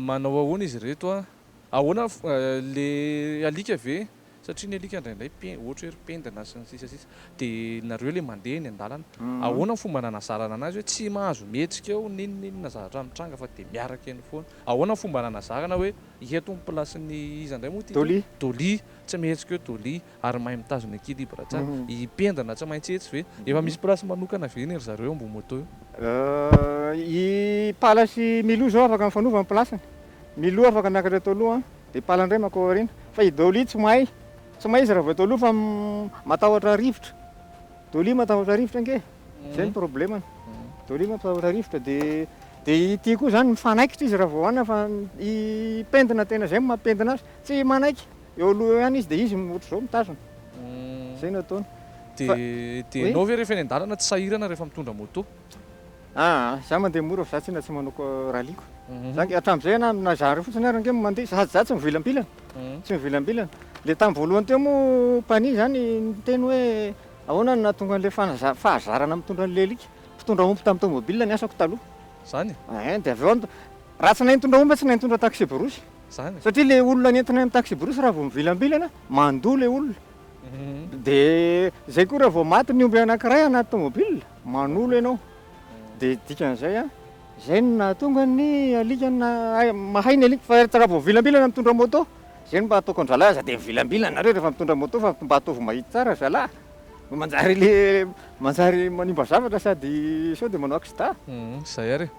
Manao ahoana izy ireto a? Ahoana le alika ve? Satria ny alika indraindray pend ohatra hoe ry pendina sy ny sisa sisa de nareo le mandeha eny andalana ahoana ny fomba nanazarana anazy hoe tsy mahazo mihetsika eo ninoninona zavatra mitranga fa de miaraka eny foana ahoana ny fomba nanazarana hoe eto ny place ny iza indray moa ty toa? Dolly, Dolly, tsy mihetsika eo Dolly, ary mahay mitazona equilibre tsara, hipendrana tsy maintsy etsy ve? Efa misy place manokana ve anie ry zareo eo ambony moto eo? I Pala sy Milou zao afaka mifanova ny place-ny, Milou afaka miakatra eto aloha dia Pala indray mankao aoriana, fa i Dolly tsy mahay, tsy mahay izy raha vao eto aloha fa matahotra rivotra, Dolly matahotra rivotra ange e, zay ny probleme-ny, Dolly matahotra rivotra dia dia ity koa zany mifanaikitra izy raha vao any fa i pendina tena zay no mampendina azy, tsy manaiky, eo aloha eo ihany izy dia izy ohatr'izao mitazona. Izay no ataony. Dia dia ianao ve rehefa eny an-dalana tsy sahirana rehefa mitondra moto? Aa, izaho mandeha mora fa izaho tsinona tsy manao rallye-ko. Izaho ange hatramin'izay ianà na izaho ary fotsiny ary ange no mandeha sady izaho tsy mivilambilana, tsy mivilambilana. Dia tamin'ny voalohany teo moa mpanihy izany niteny hoe ahoana no nahatonga an'ilay fanaza- fahazarana mitondra an'ilay alika. Mpitondra omby tamin'ny tômôbilina ny asako taloha. Izany? Ein, dia avy eo aho nit- raha tsy nahay nitondra omby aho tsy nahay nitondra taxi-brousse. zany. Satria le olona nentina am taxi-brousse raha vao mivilambilana, mandoa le olona. De zay koa raha vao maty ny omby anakiray anaty tomobile, manolo ianao. De dikan'izay a, zay no nahatonga ny alika na mahay ny alika fa raha vao mivilambilana mitondra moto, zay no mba ataoko an-dRalahy aza de mivilambilana nareo rehefa mitondra moto fa mba ataovy mahitsy tsara zalahy, fa manjary le manjary manimba zavatra sady sao de manao accident. Zay ary e.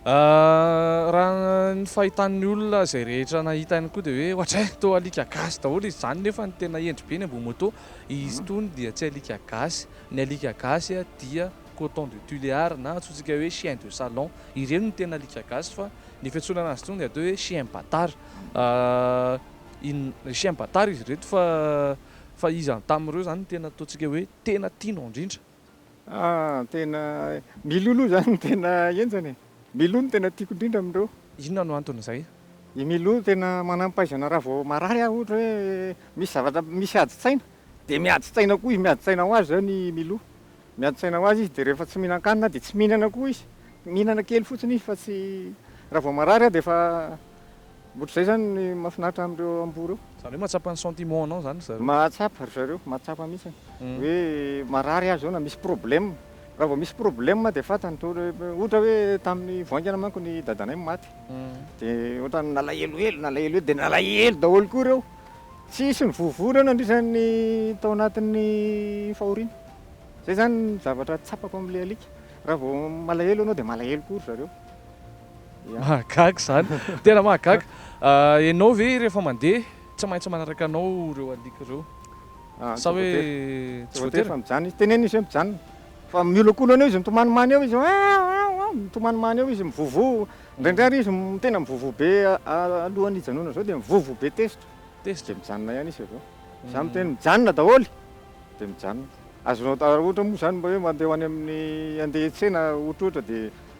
Raha ny fahitan'ny olona izay rehetra nahita ihany koa dia hoe ohatray toa alika gasy daholo izy izany nefa ny tena hendry be ny amboa moto, izy itony dia tsy alika gasy, ny alika gasy dia coton de Tuléar na antsointsika hoe chien de salon, ireny no tena alika gasy fa ny fiantsoana an'azy itony dia atao hoe chien batar, inona, chien batar izy ireto fa fa iza tamin'ireo izany no tena ataontsika hoe tena tianao indrindra? Ah tena Milou aloha zany no tena henjana e! Milou no tena tiako indrindra amin'ireo. Inona no anton'izay? I Milou tena manam-pahaizana raha vao marary aho ohatra hoe misy zavatra misy adin-tsaina dia miadin-tsaina koa izy miadin-tsaina ho azy izany i Milou. Miadin-tsaina ho azy izy dia rehefa tsy mihinan-kanina aho dia tsy mihinana koa izy. Mihinana kely fotsiny izy fa tsy raha vao marary aho dia efa Ohatr'izay izany ny mahafinaritra amin'ireo amboa ireo. Izany hoe mahatsapa ny sentiment anao izany ry zareo? Mahatsapa ry zareo, mahatsapa mihitsy hoe marary azy zao na misy problème. Raha vao misy problème dia fantany toa ohatra hoe tamin'ny voaingana manko ny dadanay maty dia ohatran'ny nalahelohelo, nalahelohelo dia nalahelo daholo koa ireo. Tsisy nivovo ireo nandritra ny tao anatin'ny fahoriana. Izay izany ny zavatra tsapako amin'ilay alika. Raha vao malahelo ianao dia malahelo koa ry zareo. Mahagaga izany, tena mahagaga. Ianao ve rehefa mandeha tsy maintsy manaraka anao ireo alika ireo? Sa hoe tsy voatery? Fa mijanona izy, teneno izy hoe mijanona. Fa miolokolona eo izy, mitomanimany eo izy, aou aou aou, mitomanimany eo izy, mivovo. Indraindray ary izy tena mivovo be alohan'ny hijanonany izao dia mivovo be tezitra. Tezitra? Dia mijanona ihany izy avy eo. Izaho miteny mijanona daholo, dia mijanona. Azonao atao, raha ohatra moa izany mba hoe mandeha ho any amin'ny, handeha hiantsena ohatrohatra dia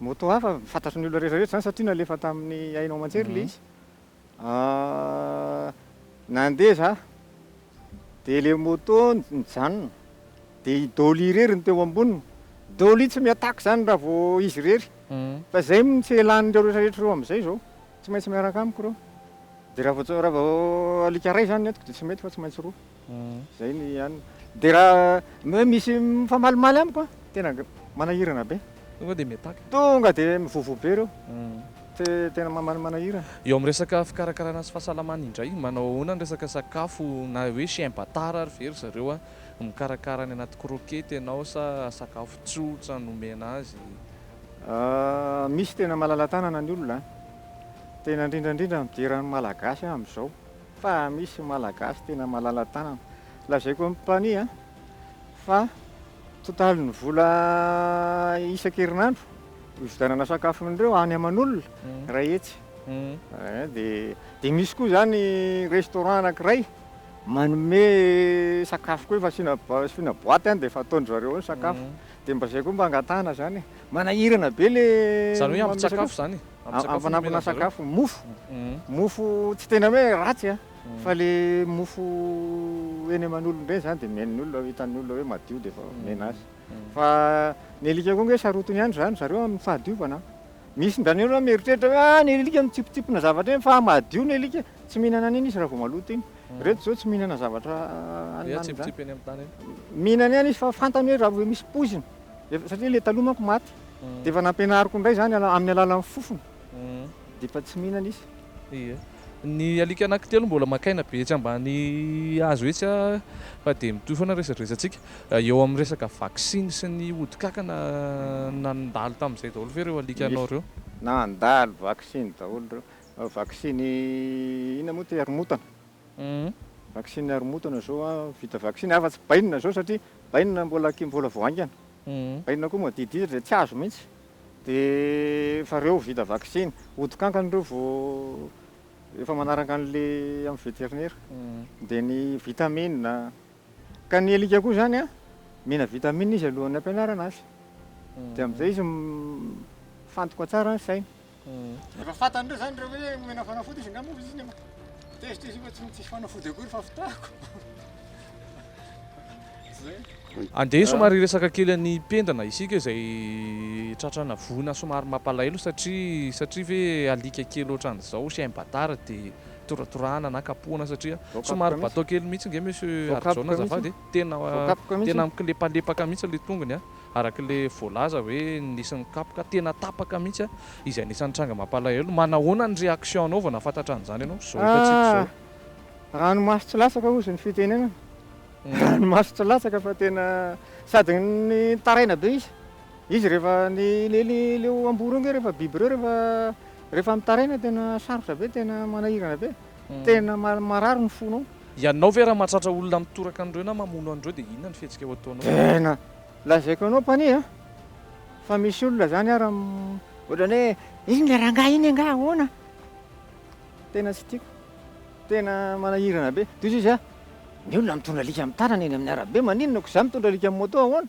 Moto hafa, fantatry ny olona rehetra rehetra izany satria nalefa tamin'ny haino aman-jery ilay izy. Nandeha izaho, dia ilay moto nijanona, dia i Dolly irery no teo amboniny. Dolly tsy mi-attaque izany raha vao izy irery, fa izay no tsy elan'ireo rehetra rehetra ireo amin'izay izao, tsy maintsy miaraka amiko ireo. Dia raha vao, raha vao alika iray izany ny entiko dia tsy mety fa tsy maintsy roa. Zay ny an. De raha ny hoe misy mifamalimaly amiko an, tena manahirana be. Tonga dia miataka. Tonga dia mivovo be ireo. Te tena mama manahirana. Eo amin'ny resaka fikarakarana sy fahasalamana indray, manao ahoana ny resaka sakafo na hoe chien batard ary ve ry zareo an? Mikarakara any anaty croquette ianao sa sakafo tsotra no omena azy? Ah, misy tena malala-tanana ny olona an. Tena indrindra indrindra midera ny Malagasy an amin'izao. Fa misy Malagasy tena malala-tanana. Lazaiko amin'ny mpania fa totalin'ny vola isan-kerinandro ividianana sakafon'ireo any aman'olona iray hetsy. Dia misy koa izany restaurant anankiray manome sakafo koa efa asiana boaty any dia efa ataon-dry zareo ao ny sakafo. Dia mba izay koa mba angatahana izany e. Manahirana be ilay manome sakafo. Izany hoe ampitsakafo izany e. Amin'ny fanampina sakafo, mofo, mofo tsy tena hoe ratsy a, fa ilay mofo eny aman'olona ireny izany dia mihaino ny olona, hitan'ny olona hoe madio dia efa omena azy. Fa ny alika koa ange sarotiny ihany izany zareo amin'ny fahadiovana. Misy ny daniel mieritreritra hoe ah ny alika mitsipitsipona zavatra eny fa madio ny alika, tsy mihinana an'iny izy raha vao maloto iny. Ireto izao tsy mihinana zavatra haninaniny izany. Mihinana ihany izy fa fantany hoe raha vao misy poizina, satria ilay taloha manko maty. Dia efa nampianariko indray izany amin'ny alalan'ny fofona, dia efa tsy mihinana izy. Ie. Ny alika anankitelo mbola maka aina be etsy ambany hazo etsy fa dia mitohy foana ny resadresantsika. Eo amin'ny resaka vaksiny sy ny ody kankana nandalo tamin'izay daholo ve ireo alikanao ireo? Nandalo vaksiny daholo ireo. Vaksiny inona moa ity? Haromontana. Vaksiny haromontana izao vita vaksiny afa-tsy bainina izao satria bainina mbola mbola vao haingana. Inona koa moa didiry dia tsy azo mihitsy dia efa ireo vita vaksiny ody kankana ireo vao efa manaraka an'ilay amin'ny veterinera dia ny vitamine ka ny alika koa izany an mila vitamine izy alohan'ny hampianarana azy dia amin'izay izy mifantoka tsara ny sainy. Efa fantan'ireo zany ireo hoe omena fanafody izy angamba izy nefa tezitra izy fa tsy tsisy fanafody akory fa fitahako. Andeha somary hiresaka kely an'i Pendana isika izay tratrana voina somary mampalahelo satria satria ve alika kely ohatran'izao chien batard dia toratorahana na kapohana satria somary bateau kely mihitsy nge monsieur Harijaona azafady e, tena tena mikolepalepaka mihitsy ilay tongony a. araka le voalaza hoe nisy nikapoka, tena tapaka mihitsy a, izay anisan'ny tranga mampalahelo, manahoana ny réaction nao vao nahafantatra an'izany ianao, zao efa tsy hita zao. Ah! Ranomaso tsy latsaka ozy ny fitenenana, ranomaso tsy latsaka fa tena sady nitaraina be izy, izy rehefa ny le le leo amboa reo nge rehefa biby reo rehefa rehefa mitaraina tena sarotra be tena manahirana be. Tena marary ny fonao. Ianao ve raha mahatratra olona mitoraka an'ireo na mamono an'ireo dia inona ny fihetsika ho ataonao? Tena lazaiko anao Panie a! Fa misy olona izany ara ohatran'ny hoe iny le rangahy iny angaha ahoana? Tena tsy tiako. Tena manahirana be. Tohizo izy a! Ny olona mitondra alika amin'ny tanana eny amin'ny arabe maninona koa za mitondra alika amin'ny moto ahoana?